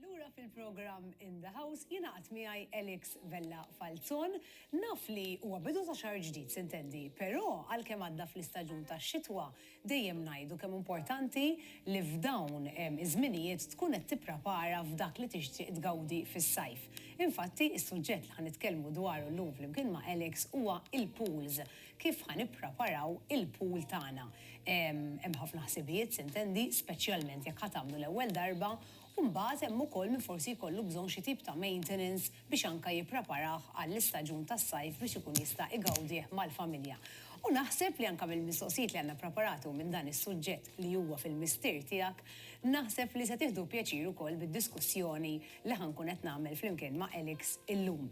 Lura fil-programm In the House jingħaqad miegħi Elix Vella Falzon. Naf li huwa bidu ta' xahar ġdid, s'intendi, però għalkemm għadda fl-istaġun tax-xitwa, dejjem ngħidu kemm importanti li f'dawn iż-żminijiet tkun qed tipprapara f'dak li tixtieq tgawdi fis-sajf. Infatti, is-suġġett li ħa nitkellmu dwaru llum flimkien ma' Elix huwa il-pools. Kif ħa nippreparaw il-pool tagħna? Hemm ħafna ħsibijiet, s'intendi, speċjalment jekk ħa tagħmlu l-ewwel darba, u mbagħad hemm ukoll min forsi jkollu bżonn xi tip ta' maintenance biex anke jippreparah għall-istaġun tas-sajf biex ikun jista' igawdih mal-familja. U naħseb li anke mill-mistoqsijiet li għandna ppreparati u minn dan is-suġġett li huwa fil-mistier tiegħek, naħseb li se tieħdu pjaċir ukoll bid-diskussjoni li ħa nkun qed nagħmel flimkien ma' Alex illum.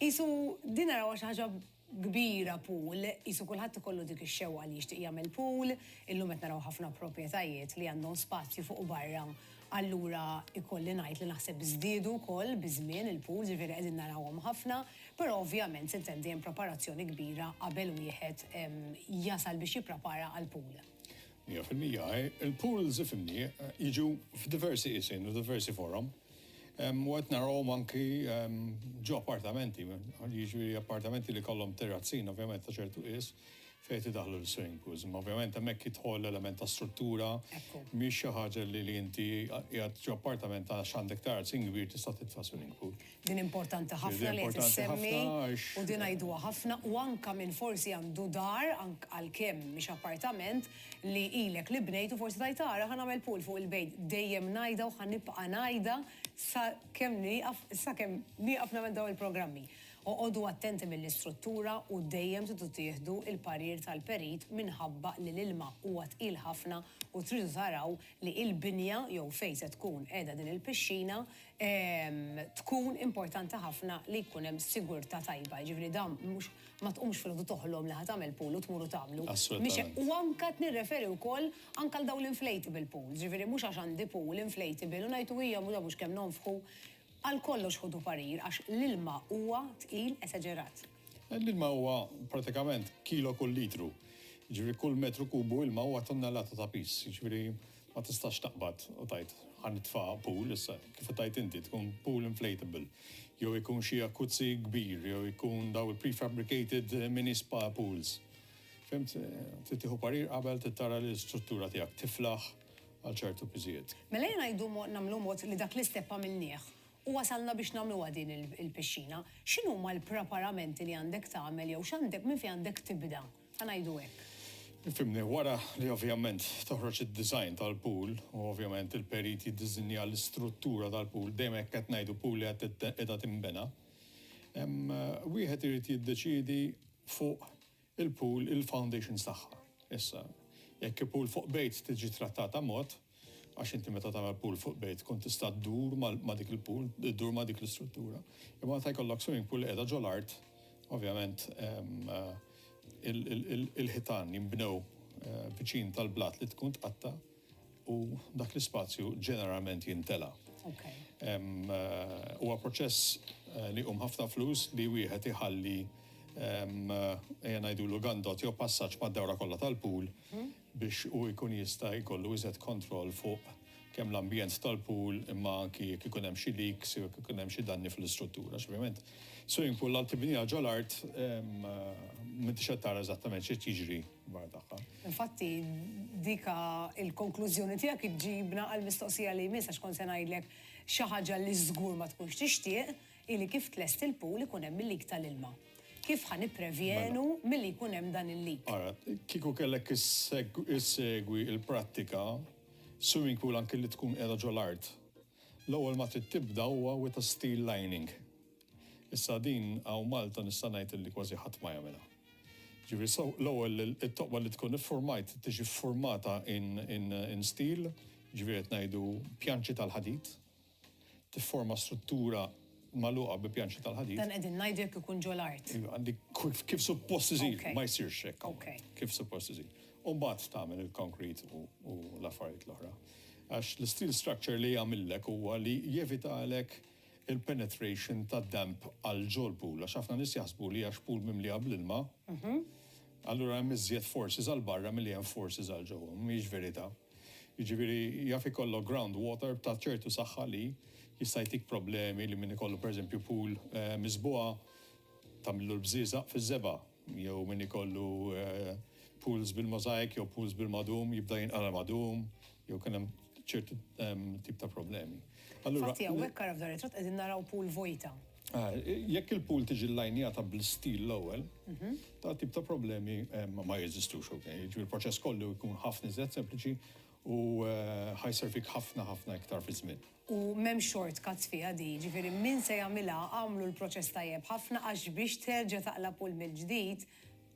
Qisu din narawha xi ħaġa kbira pool, qisu kulħadd ikollu dik ix-xewqa li jixtieq jagħmel pool, illum qed naraw ħafna proprjetajiet li għandhom spazju fuq u barra, allura ikolli ngħid li naħseb żdiedu wkoll biż-żmien il-pools, jiġifieri qegħdin narawhom ħafna, però ovvjament s'intendi hemm preparazzjoni kbira qabel wieħed jasal biex jipprepara għall-pool. Mija fil-mija, il-pools ifhimni jiġu f'diversi qisien u diversi forom. U qed narahom anki ġo appartamenti, jiġri appartamenti li kollhom terrazzin, ovvjament ta' ċertu qis, fejn tidaħlu l-swimming pools. Ma ovvjament hemmhekk jidħol l-element ta' struttura, mhix xi ħaġa li li inti qiegħed ġo appartament għax għandek terrazzin kbir tista' titfa' swimming pool. Din importanti ħafna li qed issemmi u din ngħiduha ħafna u anke min forsi għandu dar għalkemm mhix appartament, li ilek li bnejt u forsi tajt ara ħa nagħmel pool fuq il-bejt dejjem ngħidha u ħa nibqa' ngħidha sa kemm nieqaf sa kemm nieqaf nagħmel dawn il-programmi. Oqogħdu attenti mill-istruttura u dejjem tridu tieħdu l-parir tal-perit minħabba li l-ilma huwa tqil ħafna u tridu taraw li l-binja jew fejn se tkun qiegħda din il-pixxina tkun importanti ħafna li jkun hemm sigurtà tajba jiġifieri dan mhux ma tqumx filgħodu toħlom li ħa tagħmel pool u tmur u tagħmlu. Mhix hekk. U anke qed nirreferi wkoll anke għal dawn l-inflatable pools. Jiġifieri mhux għax għandi pool inflatable u ngħid u hija mhux mhux kemm nonfħu. Għal kollox ħudu parir għax l-ilma huwa tqil esaġerat. L-ilma huwa pratikament kilo kull litru. Jiġifieri kull metru kubu ilma huwa tunnellata ta' piż. Jiġifieri. Ma tistax taqbad u tgħid, ħa nitfagħha pool issa, kif qed tgħid inti, tkun pool inflatable, jew ikun xi jacuzzi kbir, jew ikun dawn il-prefabricated mini spa pools. Fhimt? Trid tieħu parir qabel, trid tara li l-istruttura tiegħek tiflaħ għal ċertu piżijiet. Mela ejja ngħidu mod, nagħmlu mod li dak l-istep għamilnieh u wasalna biex nagħmluha din il-pixxina. X'inhuma l-preparamenti li għandek tagħmel jew x'għandek, minn fejn għandek tibda? Ħa ngħidu hekk. Fimni, wara li ovvjament toħroġ id-design tal-pool u ovvjament il-perit jiddiżinja l-istruttura tal-pool, dejjem hekk qed ngħidu pool li qed qiegħda tinbena, wieħed irid jiddeċiedi fuq il-pool il-foundations tagħha. Issa, jekk hi pool fuq bejt tiġi trattata mod, għax inti meta tagħmel pool fuq bejt tkun tista' ddur ma' dik il-pool, ddur ma' dik l-istruttura. Imma meta jkollok swimming pool li qiegħda ġol art, ovvjament ehm, il-ħitan jinbnew eh, viċin tal-blat li tkun tqatta u dak l-ispazju ġeneralment jintela. Ehm, eh, huwa proċess eh, li um ħafna flus li wieħed iħalli ehm, ejja ngħidu l-gandot jew passaġġ mad-dawra kollha tal-pool hmm? biex hu jkun jista' jkollu iżjed kontroll fuq kemm l-ambjent tal-pool imma anki jekk ikun hemm xi leaks jew jekk ikun hemm xi danni fl-istruttura għax ovvjament swimming pool għal tibniha ġo l-art m'intix qed tara eżattament xi qed jiġri barra tagħha. Infatti dik il-konklużjoni tiegħek iġġibna għall-mistoqsija li jmiss għax kont se ngħidlek xi ħaġa li żgur ma tkunx tixtieq, Hi li kif tlest il-pool ikun hemm il-leak tal-ilma. Kif ħa nipprevjenu milli jkun hemm dan il-leak? Ara, kieku kellek issegwi l-prattika, swimming pool anki li tkun qiegħda ġo l-art, l-ewwel ma trid tibda huwa with a steel lining. Issa din hawn Malta nista' ngħid illi kważi ħadd ma jagħmilha. Ġifieri so l-ewwel it-toqba li tkun iffurmajt tiġi ffurmata in in in steel, ġifieri qed ngħidu pjanċi tal-ħadid, tifforma struttura magħluqa bi pjanċi tal-ħadid. Dan qegħdin ngħidu jekk ikun ġo l-art. Iva, kif suppost iżid, ma jsirx hekk. Kif suppost iżid. U mbagħad tagħmel il-konkrit u l-affarijiet l-oħra. Għax l-steel structure li jagħmillek huwa li jevitalek il-penetration ta' damp għal ġol pool, għax ħafna nies jaħsbu li għax pool mimli għab l-ilma, mhm. allura hemm iżjed forces għal barra milli hemm forces għal ġewwa, mhix verità. Jiġifieri jaf ikollok ground water ta' ċertu saħħa li jista' jtik problemi li min ikollu pereżempju pool miżbugħa tagħmillu l-bżieżaq fiż-żebgħa jew min ikollu pools bil-mosaic jew pools bil-madum jibda jinqala' l-madum jew kien hemm ċertu tip ta' problemi. Allura Infatti hawnhekk ara f'dan ir-ritratt qegħdin naraw pool vojta. Jekk il-pool tiġi llajnjata bl-istil l-ewwel, dan tip ta' problemi ma jeżistux, ok? Jiġifieri l-proċess kollu jkun ħafna iżjed sempliċi u ħa jservik ħafna ħafna iktar fiż-żmien. U m'hemm shortcuts fiha din, jiġifieri min se jagħmilha agħmlu l-proċess tajjeb ħafna għax biex terġa' taqla' pool mill-ġdid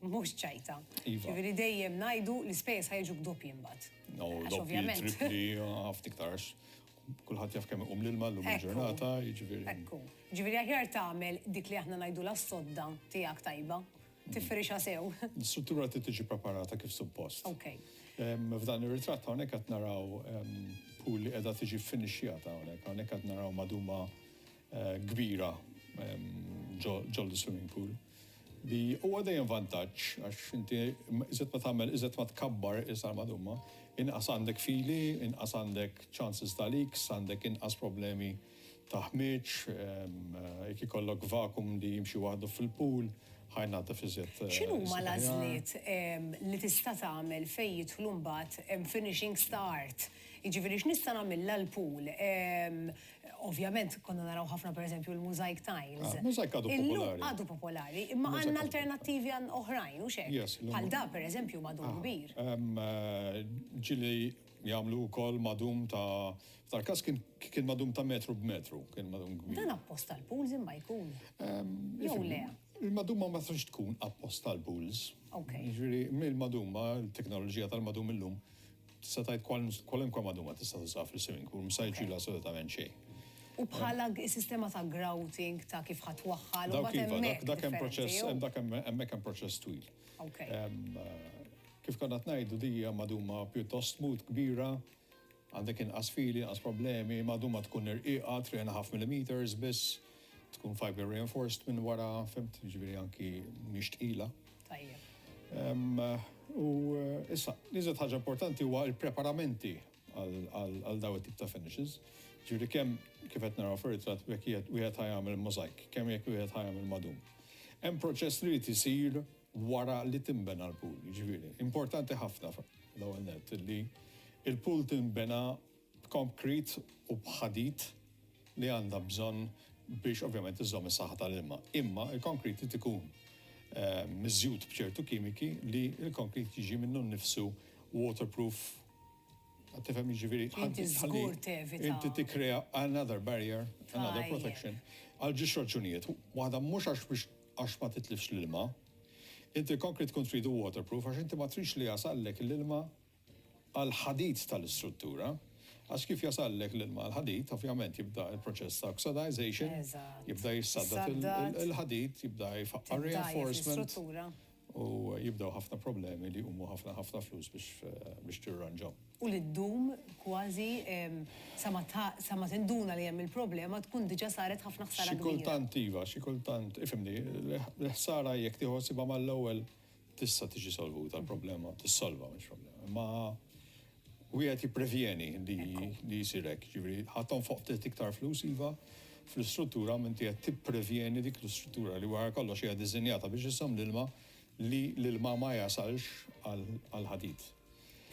mhux ċajta. Jiġifieri dejjem ngħidu l-ispejjeż ħa jiġuk doppji mbagħad. Doppji, trippli, ħafna iktar għax Kulħadd jaf kemm iqum l-ilma llum il-ġurnata, jiġifieri. Ekku. Ġifieri aħjar tagħmel dik li aħna ngħidulha s-sodda tiegħek tajba, tifrixha sew. L-istruttura trid tiġi preparata kif suppost. Okej. F'dan ir-ritratt hawnhekk qed naraw pool li qiegħda tiġi ffinixxjata hawnhekk. Hawnhekk qed naraw maduma kbira ġol-swimming pool. Li huwa dejjem vantaġġ għax inti iżjed ma tagħmel iżjed ma tkabbar is-sar madumma, inqas għandek fili, inqas għandek chances ta' leaks, għandek inqas problemi ta' ħmieġ, jekk ikollok vacuum li jimxi waħdu fil-pool, ħa jnaddef iżjed sikur. X'inhuma l-għażliet li tista' tagħmel fejn jidħlu mbagħad finishings ta' art? Jiġifieri x'nista' nagħmilha l-pool? Ovvjament konna naraw ħafna pereżempju l-mosaic tiles. Ah, mosaic għadu popolari. Illum għadu popolari, imma għandna alternattivi għan oħrajn, u xek. Bħal da, pereżempju, madum ah, kbir. Eh, ġili jagħmlu wkoll madum ta' tal-każ kien madum ta' metru b'metru, kien madum kbir. Dan appost tal-pools imma jkun. Jew le. Il-madumma ma tistax tkun appost tal-pools. Ok. Ġifieri mill-madumma, l-teknoloġija tal-madum illum Tista' tgħid kwalunkwe magħduma tista' tużaha fil-swimming pool, mhux se jiġrilha assolutament xejn. U bħala s-sistema ta' grouting ta' kif ħa twaħħal u mbagħad hemmhekk. Dak hemm proċess, dak hemm hemmhekk hemm proċess twil. Kif konna qed ngħidu din hija magħduma pjuttost smooth, kbira, għandek inqas fili, inqas problemi, magħduma tkun irqiqa, three and a half millimetres biss, tkun fibre reinforced minn wara, fimt, jiġifieri anki mhix tqila. Tajjeb. U issa, l-iżjed ħaġa importanti huwa l-preparamenti għal daw it-tip ta' finishes. Ġifieri kemm kif qed naraw fir-ritratt jekk wieħed ħajamel mozaik, kemm jekk wieħed ħajamel madum. Hemm proċess li jrid isir wara li tinbena l-pool, ġifieri importanti ħafna l-ewwel nett li l-pool tinbena b'konkrit u b'ħadid li għandha bżonn biex ovvjament iżżomm is-saħħa tal-ilma. Imma l-konkrit irid ikun miżjud b'ċertu kimiki li l-konkrit jiġi minnu nnifsu waterproof. Qed tifhem jiġifieri ħalli żgur tevita. Inti tikkrea another barrier, another protection għal ġiex raġunijiet. Waħda mhux għax biex għax ma titlifx l-ilma. Inti l-konkrit tkun tridu waterproof għax inti ma tridx li jasallek l-ilma għall-ħadid tal-istruttura, għax kif jasallek l-ilma għall-ħadid, ovvjament jibda l-proċess ta' oxidization, jibda jissaddad il-ħadid, jibda jfaqqar reinforcement, u jibdew ħafna problemi li jqumu ħafna ħafna flus biex tirranġahom. U li ddum kważi sa ma tinduna li hemm il-problema tkun diġà saret ħafna ħsara kbira. Xi kultant iva, xi kultant, ifhimni, l-ħsara jekk tieħu ħsiebha mal-ewwel Tista' tiġi solvuta l-problema, tissolva mhux problema. Imma wieħed jipprevjeni li jsir hekk, ġifieri ħaddhom fuq ftit iktar flus iva fl-istruttura minn qed tipprevjeni dik l-istruttura li wara kollox hija diżinjata biex iżżomm l-ilma li l-ilma ma jasalx għall-ħadid.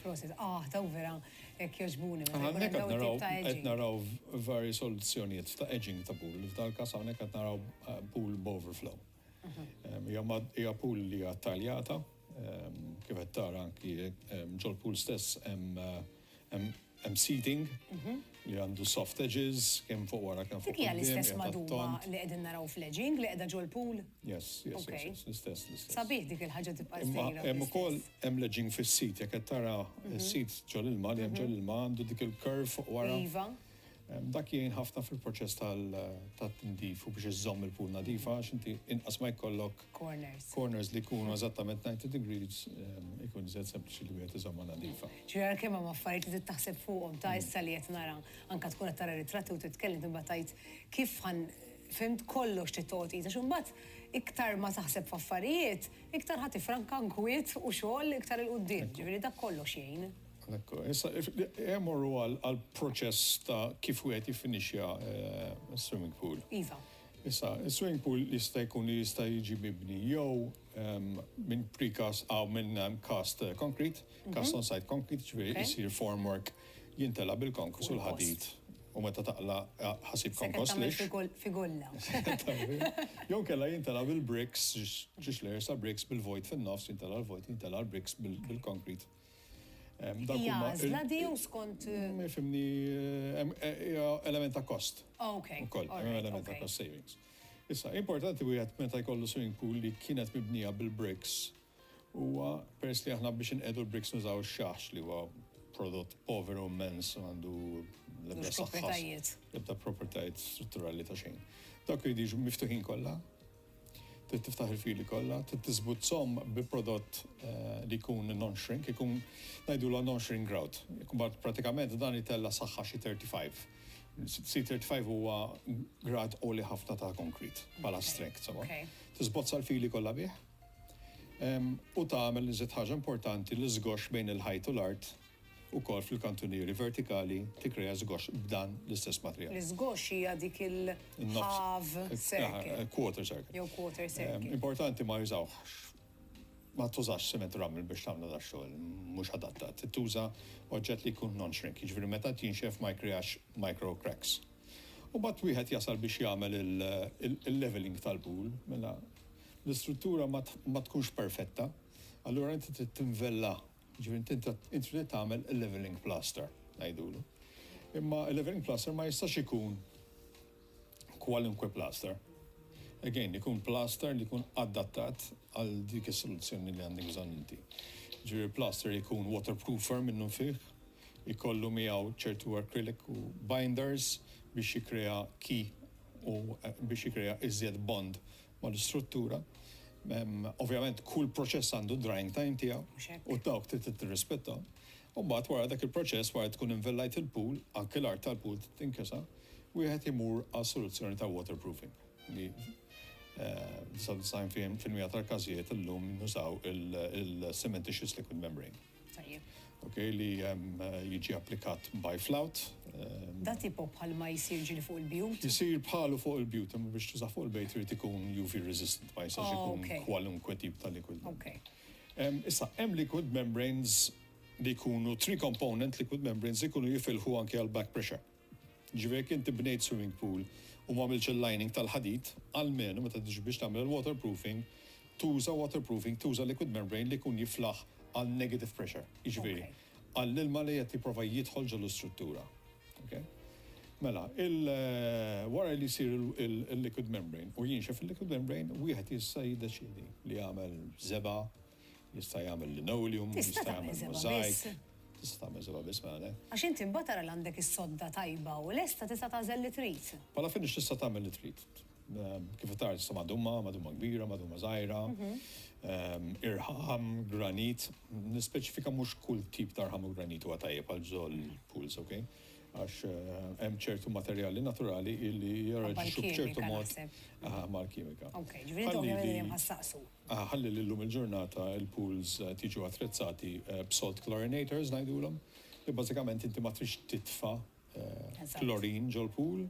Prosit, ah, daw vera hekk jogħġbuni. Hawnhekk qed naraw qed naraw vari soluzzjonijiet ta' edging ta' pool. F'dal-każ hawnhekk qed naraw eh, pool b'overflow. Hija pool li hija taljata, kif qed tara anki ġol-pool stess hemm seating li għandu soft edges kemm fuq wara kemm fuq. Dik hija l-istess maduba li qegħdin naraw fl-edging li qiegħda ġol-pool? Yes, yes, yes, l-istess, l-istess. Sabiħ dik il-ħaġa tibqa' ġdida. Hemm ukoll hemm l-edging fis-sit, jekk qed tara s-sit ġol-ilma li hemm ġol-ilma għandu dik il-curve fuq wara. Iva. Dak jgħin ħafna fil-proċess tat-tindif u biex iżżomm il-pool nadifa għax inti inqas ma jkollok corners, corners li jkunu eżattament 90 degrees ikun iżjed sempliċi li wieħed iżommha nadifa. Ġifieri għal kemm hemm affarijiet li trid taħseb fuqhom ta' issa li qed nara anke tkun qed tara ritratti u titkellem imbagħad tgħid kif ħa fimt kollox trid toqgħod tqis għax imbagħad iktar ma taħseb f'affarijiet iktar ħa tifranka nkwiet u xogħol iktar 'il quddiem. Ġifieri dak kollox jgħin. Ekku, issa morru għal proċess ta' kif wieħed jiffinixja swimming pool. Iva. Issa, swimming pool jista' jkun li jista' jiġi mibni jew minn precast aw minn cast concrete, cast on site concrete, ġifieri isir formwork jintela' bil-konkos u l-ħadid u meta taqla' ħasib konkos lixx. Sekkit tagħmel figulla. Jew inkella jintela' bil-bricks, ġiex layers ta' bricks bil-vojt fin-nofs, jintela' l-vojt, jintela' l-bricks bil-concrete. Hija għażla di jew skont. Fimni, hija element ta' kost. Ok. Ukoll, element ta' kost savings. Issa, importanti wieħed meta jkollu swimming pool li kienet mibnija bil-bricks huwa peress li aħna biex inqedu l-bricks nużaw ix-xaħx li huwa prodott poveru immens u għandu l-ebda proprjetajiet. L-ebda proprjetajiet strutturali ta' xejn. Dawk irid jiġu miftuħin kollha Trid tiftaħ il-fili kollha, trid tiżgud żomm bi prodott li jkun non-shrink, ikun ngħidulha non-shrink grout. Imbagħad pratikament dan itella' saħħa xi 35. C 35 huwa grad għoli ħafna ta' konkrit bħala strength, insomma. Tiżbozza l-fili kollha bih u tagħmel l-iżjed ħaġa importanti l-iżgoxx bejn il-ħajt u l-art. ukoll fil-kantunieri vertikali tikkrea żgoxx b'dan l-istess materjal. L-iżgoxx hija dik il-half circle. Quarter circle. Jew quarter circle. Importanti ma jużawhx, ma tużax cement rummel biex tagħmlu da xogħol, mhux adatta. Trid tuża oġġett li jkun non-shrink, jiġifieri meta jinxef ma jikkreax micro cracks. U mbagħad wieħed jasal biex jagħmel il-levelling tal-pool, mela l-istruttura ma tkunx perfetta, allura inti trid tinvella Jiġifieri int inta int trid tagħmel il-levelling plaster ngħidulu. Imma il-levelling plaster ma jistax ikun kwalunkwe plaster. Again, ikun plaster li jkun adattat għal dik is-soluzzjoni li għandek bżonn inti. Ġifieri plaster ikun waterproofer minnu fih, ikollu miegħu ċertu acrylic u binders biex jikkrea key u biex jikkrea iżjed bond mal-istruttura. Ovvjament kull proċess għandu d-drying time tiegħu. Mhux hekk. U dawk trid tirrispetthom. U mbagħad wara dak il-proċess, wara li tkun invellajt il-pool, anke l-art tal-pool trid tinkisa, wieħed imur għal soluzzjoni ta' waterproofing li f'99% tal-każijiet illum nużaw il-cementitious liquid membrane. Tajjeb. Ok, li jiġi applikat by flout. Da tipo bħalma jsir ġieli fuq il-bjut? Isir bħalu fuq il-bjut, imma biex tużah fuq il-bejt irid ikun UV resistant, ma jistax ikun kwalunkwe tip ta' liquid. Ok. Issa, hemm liquid membranes li jkunu three component liquid membranes li jkunu jifilħu anke għall-back pressure. Jiġifieri jekk inti bnejt swimming pool u m'għamiltx il-lining tal-ħadid, almenu meta tiġi biex tagħmel il-waterproofing, tuża waterproofing, tuża liquid membrane li jkun jiflaħ għal negative pressure, jiġifieri għall-ilma li qed jipprova jidħol ġol-istruttura. Ok? Mela, wara li jsir il-liquid membrane u jinxef il-liquid membrane, wieħed jista' jiddeċiedi li jagħmel żebgħa, Jista' jagħmel linoleum, jista' jagħmel mosaic. Tista' tagħmel seba' biss mela le. Għax inti mbagħad tara li għandek is-sodda tajba u lesta tista' tagħżel li trid. Bħala finish tista' tagħmel li trid. Kif qed tara tista' madumma, madumma kbira, madumma żgħira, irħam, granit. Nispeċifika mhux kull tip ta' rħam u granit huwa tajjeb għal bżonn pools, ok? Għax hemm ċertu materjali naturali li jirreaġixxu b'ċertu mod mal-kimika. Ok, ġifieri intom hemm ħa ssaqsu. ħalli li llum il-ġurnata il-pools qed jiġu attrezzati b'salt chlorinators ngħidulhom, li bażikament inti ma tridx titfa' klorin ġol-pool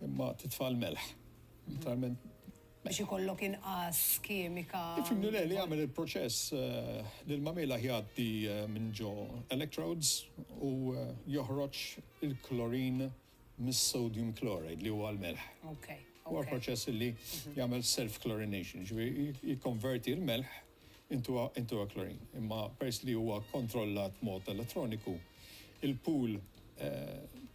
imma titfa' l-melħ. Literalment. Biex ikollok inqas kimika. Tifhimni le, li jagħmel il-proċess l-ilma mielħ jgħaddi minn ġo electrodes u joħroġ il-klorin. mis-sodium chloride li huwa l-melħ. Huwa proċess li jagħmel self-chlorination, jiġifieri jikkonverti l-melħ into a chlorine. Imma peress li huwa kontrollat b'mod elettroniku, il-pool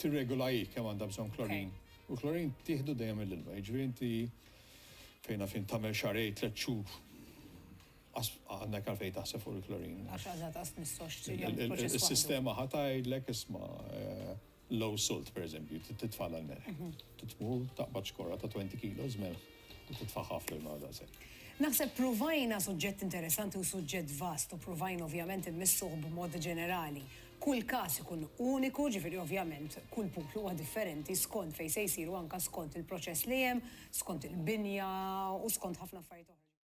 tirregola hi kemm għandha bżonn chlorine. U l-chlorine tieħdu dejjem mill-ilma. Jiġifieri inti fejn naf jien tagħmel xahrejn, tliet xhur, għandek għalfejn taħseb fuq il-chlorine. Għax għadha ta' spiss għax trid tagħmel proċess waħdu. Is-sistema ħa tgħidlek, isma', Low salt, pereżempju, trid titfagħla l-melħ. Trid tmur taqbad xkorra ta' twenty kilos melħ u titfagħha fl-ilma għal daqshekk. Naħseb pruvajna suġġett interessanti u suġġett vast u pruvajna ovvjament immissuh b'mod ġenerali. Kull każ ikun uniku, ġifieri ovvjament kull puplu huwa differenti skont fejn se jsir u anke skont il-proċess li hemm, skont il-binja u skont ħafna affarijiet oħra.